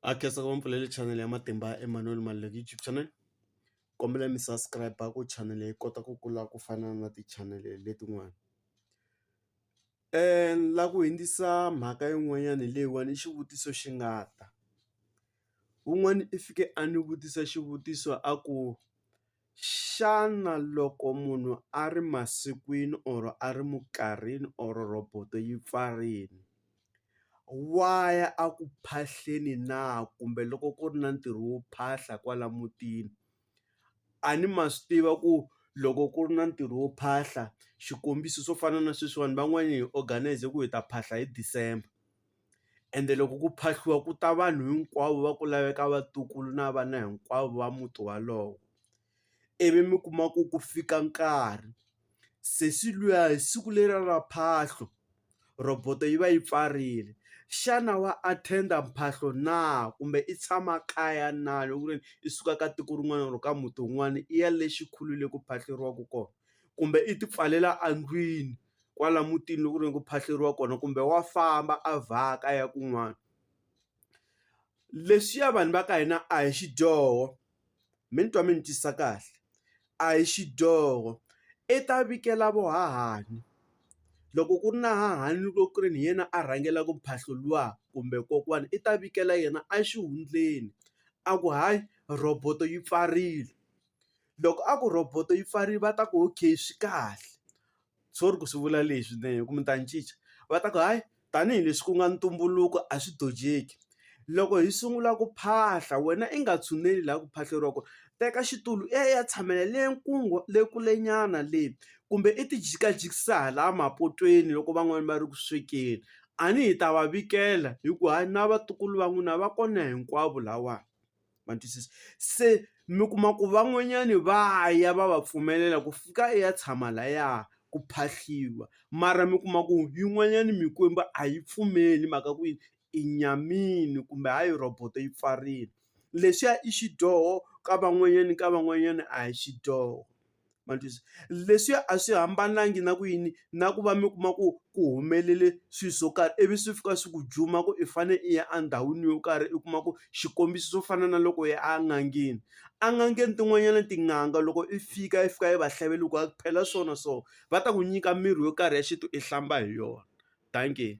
a khensa ku va ni pfulele channel ya matimba Emanuel Maluleke YouTube channel kombela mi subscribe ku channel leyi kota ku kula ku fana na ti channel letin'wana la ku hundzisa mhaka yin'wanyana hi leyiwani i xivutiso xi nga ta wun'wani i fike a ni vutisa xivutiso a ku Xana loko munhu a ri masikwini or a ri mukarhini or roboto yi pfarile wa ya a ku phahleni na kumbe loko ku ri na ntirho wo phahla kwala mutini a ni ma swi tiva ku loko ku ri na ntirho wo phahla xikombiso swo fana na sweswiwani van'wani hi organise ku hi ta phahla hi December. ende loko ku phahliwa ku ta vanhu hinkwavo va ku laveka vatukulu na vana hinkwavo va muti walowo ivi mi kuma ku ku fika nkarhi sesi luya hi siku leriya ra mphahlo roboto yi va yi pfarile xana wa attend mphahlo na kumbe i tshama kaya na loko ku ri i suka ka tiko rin'wana or ka muti wun'wana i ya le xikhulwini le ku phahleriwaka kona kumbe i ti pfalela endlwini kwala mutini loko ku ri ku phahluriwa kona kumbe wa famba a vhaka a ya kun'wana leswiya vanhu va ka hina a hi xidyoho mi ni twa mi ni twisisa kahle a hi xidyoho i ta vikela vo hahani loko ku ri na hahani loko ku ri ni hi yena a rhangela ku phahluliwa kumbe kokwana i ta vikela yena exihundleni a ku hayi roboto yi pfarile. loko a ku roboto yi pfarile va ta ku okay swi kahle sorry ku swi vula leswi ne hi ku mi ta ni cinca va ta ku hayi tanihileswi ku nga ntumbuluko a swi dojeki loko hi sungula ku phahla wena i nga tshuneli laha ku phahleriwa kona teka xitulu i ya i ya tshamela le le kule nyana le kumbe i ti jikajikisa hala mapotweni loko van'wani va ri ku swekeni a ni hi ta va vikela hi ku hayi na vatukulu va n'wina va kona hinkwavo lahawani. ma twisisa se mi kuma ku van'wanyani va ya va va pfumelela ku fika i ya tshama laya ku phahliwa mara mi kuma ku yin'wanyani mikwembu a yi pfumeli mhaka ku yini i nyamini kumbe ha yi roboto yi pfarile lexiya i xidyoho ka van'wanyani ka van'wanyani a hi xidyoho. ma twisisa leswiya a swi hambananga na ku yini na ku va mi kuma ku ku humelele swilo swo karhi ivi swi fika swi ku juma ku i fane i ya endhawini yo karhi i kuma ku xikombiso swo fana na loko ya en'angeni en'angeni tin'wanyana tin'anga loko i fika i fika i va hlaya va loko a phela swona so va ta ku nyika mirhi yo karhi ya xintu i hlamba hi yona dankie.